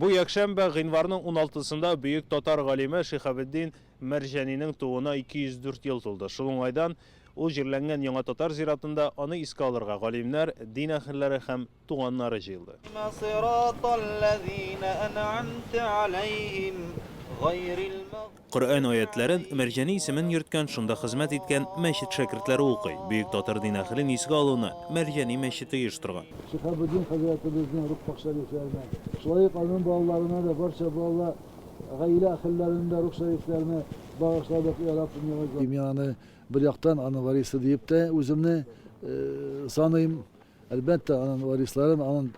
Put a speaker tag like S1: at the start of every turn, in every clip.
S1: Бу якшәмбе, гыйнварның уналтысында бөек татар галиме Шиһабетдин Мәрҗәнинең тууына 204 ел тулды. Шул уңайдан ул җирләнгән Яңа татар зиратында аны искә алырга галимнәр, дин әһелләре һәм туганнары җыелды. Коръән аятьләрен, Мәрҗани исемен йөрткән, шунда хезмәт иткән мәчет шәкертләре укый. Бөек Татыр дин әһелен искә алуны Мәрҗани мәчете оештырган. Шиһабетдин
S2: хәзрәтебезнең Рухпакъ шәрифләренә, шулай ук аның балаларына да, барча балалар, гаилә әһелләренә дә Рухъ шәрифләрне багышладык, йә Раббым, яңайтма. Мин аны, бер яктан, аның варисы диеп тә үземне саныйм. Әлбәттә, аның варисларын, аның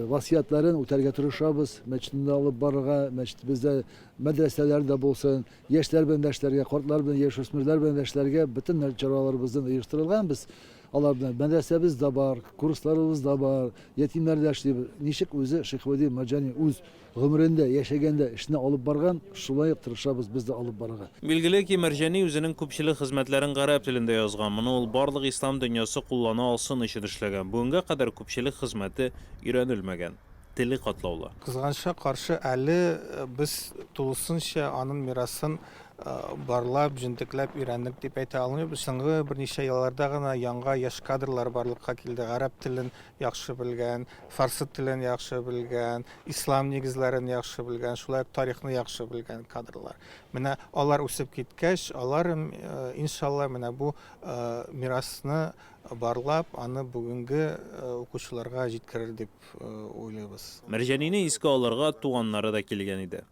S2: васыятларын үтәргә тырышабыз, мәчетне дә алып барырга, мәчетебездә мәдрәсәләр дә булсын, яшьләр белән дә эшләргә, картлар белән, яшүсмерләр белән дә эшләргә бөтен чараларыбызны оештырылган без. Алар белән мәдрәсәбез дә бар, курсларыбыз да бар, ятимнәр дә эшли. Ничек үзе Шихвәли Марҗани үз Гомерендә, яшәгәндә, эшне алып барган, шулай ук тырышабыз без дә алып барырга. Билгеле ки, Мәрҗани
S1: үзенең күпчелек хезмәтләрен гарәп телендә язган, моны ул барлык ислам дөньясы куллана алсын өчен эшләгән, бүгенгә кадәр күпчелек хезмәте өйрәнелмәгән, теле катлаулы. Кызганычка каршы,
S3: әле без тулысынча анын мирасын барлап, җентекләп өйрәндек дип әйтә алмыйбыз. Соңгы берничә елларда гына яңга яшь кадрлар барлыкка килде, гарәп телен яхшы белгән, фарсы телен яхшы белгән, ислам нигезләрен яхшы белгән, шулай ук тарихны яхшы белгән кадрлар. Менә алар үсеп киткәч, алар э, иншалла менә бу э, мирасны барлап, аны бүгенге э, укучыларга җиткерер дип уйлыйбыз. Мәрҗәнине искә
S1: алырга туганнары да килгән иде.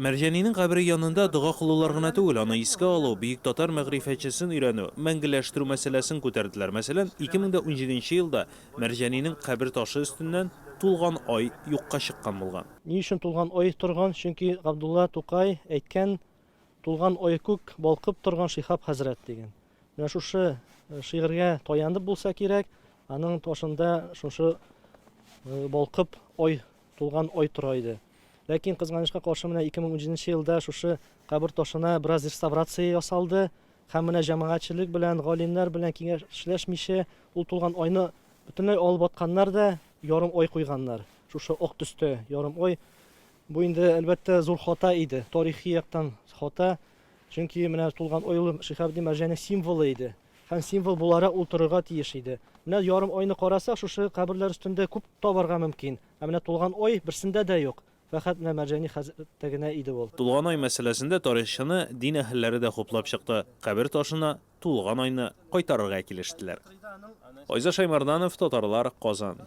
S4: Мәрҗанинең
S1: кабере янында дога кылулар гына түгел, аны искә алу, бөек татар мәгърифәтчесен өйрәнү, мәңгеләштерү мәсьәләсен күтәрделәр. Мәсәлән, 2017 елда Мәрҗанинең кабер ташы өстеннән тулган ай юкка чыккан булган. Ни өчен тулган ай
S5: торган? Чөнки Габдулла Тукай әйткән, Тулган ай күк, балкып торган Шиһаб хәзрәт, дигән. Менә шушы шигырьгә таянып булса кирәк, аның ташында шушы балкып ай тулган ай тора иде. Ләкин, кызганычка каршы, менә 2017 нче елда шушы кабер ташына бераз реставрация ясалды һәм менә җәмәгатьчелек белән, галимнәр белән киңәшләшмичә, ул тулган айны бөтенләй алып атканнар да ярым ай куйганнар. Шушы ак төстә ярым ай. Бу инде, әлбәттә, зур хата иде, тарихи яктан хата. Чөнки менә тулган ай ул Шиһабетдин Мәрҗани символы иде. Һәм символ буларак ул торырга тиеш иде. Менә ярым айны карасак, шушы каберләр өстендә күп табарга мөмкин. Ә менә тулган ай берсендә дә юк. Фәкать менә Мәрҗани хәзрәттә генә иде ул. Тулган ай мәсьәләсендә
S1: тарихчыны дин әһелләре дә хуплап чыкты, кабер ташына тулган айны кайтарырга килештеләр. Айза Шаймарданов, Татарлар, Казан.